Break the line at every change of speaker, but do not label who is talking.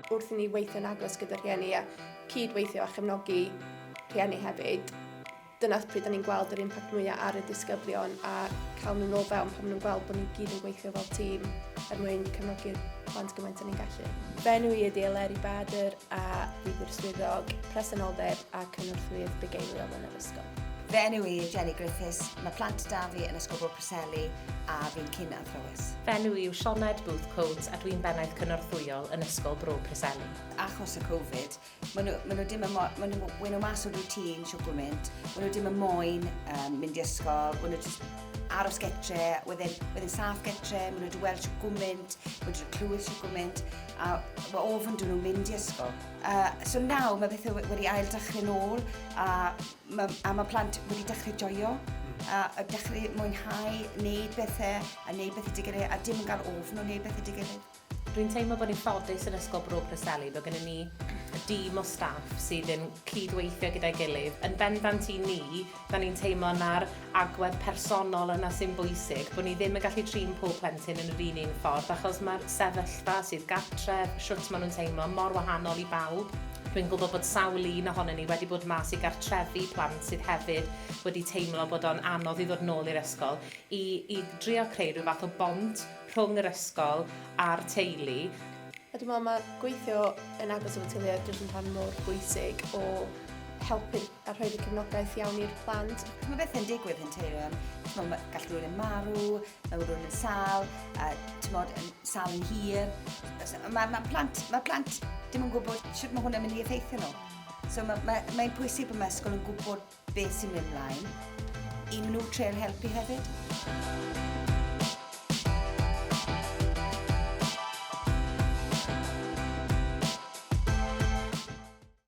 Wrth i ni weithio'n agos gyda rhieni a cyd-weithio a chefnogi rhieni hefyd, dyna pryd da ni'n gweld yr impact mwyaf ar y disgyblion a cael nhw'n ôl fewn pan maen nhw'n gweld bod ni gyd yn gweithio fel tîm er mwyn cefnogi'r plant gymaint o'n ni'n gallu. Bennu i ydy Eleri Bader, a bydd yr Swyddog Presenoldeb a Cynorthwyydd Bugeiliol yn yr ysgol. Fy enw i yw Jenny
Griffiths, mae plant da fi yn Ysgol Bro Preseli a fi'n cyn athrawes. Fy enw i yw Sioned
Booth Coates a dwi'n bennaeth cynorthwyol yn Ysgol Bro Preseli. Achos y Covid,
maen nhw, maen nhw dim yn moyn, maen nhw, maen nhw mas o routine siw gwmynt, maen nhw dim yn moyn um, mynd i ysgol, maen nhw just aros getre, wedyn, wedyn saff getre, maen nhw wedi weld siw gwmynt, maen nhw wedi clywed siw gwmynt, A mae ofn dyn nhw'n mynd i ysgol. Uh, so nawr mae bethau wedi ail dechrau'n ôl a mae, a mae plant wedi dechrau joio a, a dechrau mwynhau wneud bethau a wneud bethau dy gilydd a dim yn cael ofn o wneud bethau dy gilydd. Dwi'n teimlo bod ni'n
ffodus yn Ysgol Bro Preseli bod gennym ni dîm o staff sydd yn cydweithio gyda'i gilydd. Yn bendant i ni, Dan ni'n teimlo na'r agwedd personol yna sy'n bwysig, bod ni ddim yn gallu trin pob plentyn yn yr un un ffordd achos mae'r sefyllfa sydd gartref, shwt maen nhw'n teimlo, mor wahanol i bawb. Dwi'n gwybod bod sawl un ohonyn ni wedi bod mas i gartrefi plant sydd hefyd wedi teimlo bod o'n anodd i ddod nôl i'r ysgol i i drio creu rhyw fath o bont rhwng yr ysgol a'r teulu. A dwi'n meddwl mae
gweithio yn agos efo teuluoedd jyst yn rhan mor bwysig o helpu'r a rhoi'r y cefnogaeth iawn i'r plant. Mae bethau'n digwydd
yn teulu am, tymod, mae gallu rhywun yn marw, mae rhywun yn sal, a tymod, yn sal yn hir. Mae ma plant, ma plant dim yn gwybod sut mae hwnna'n mynd i effeithio nhw. So mae'n ma, ma, ma pwysig bod mae ysgol yn gwybod beth sy'n mynd mlaen, i maen nhw treul helpu hefyd.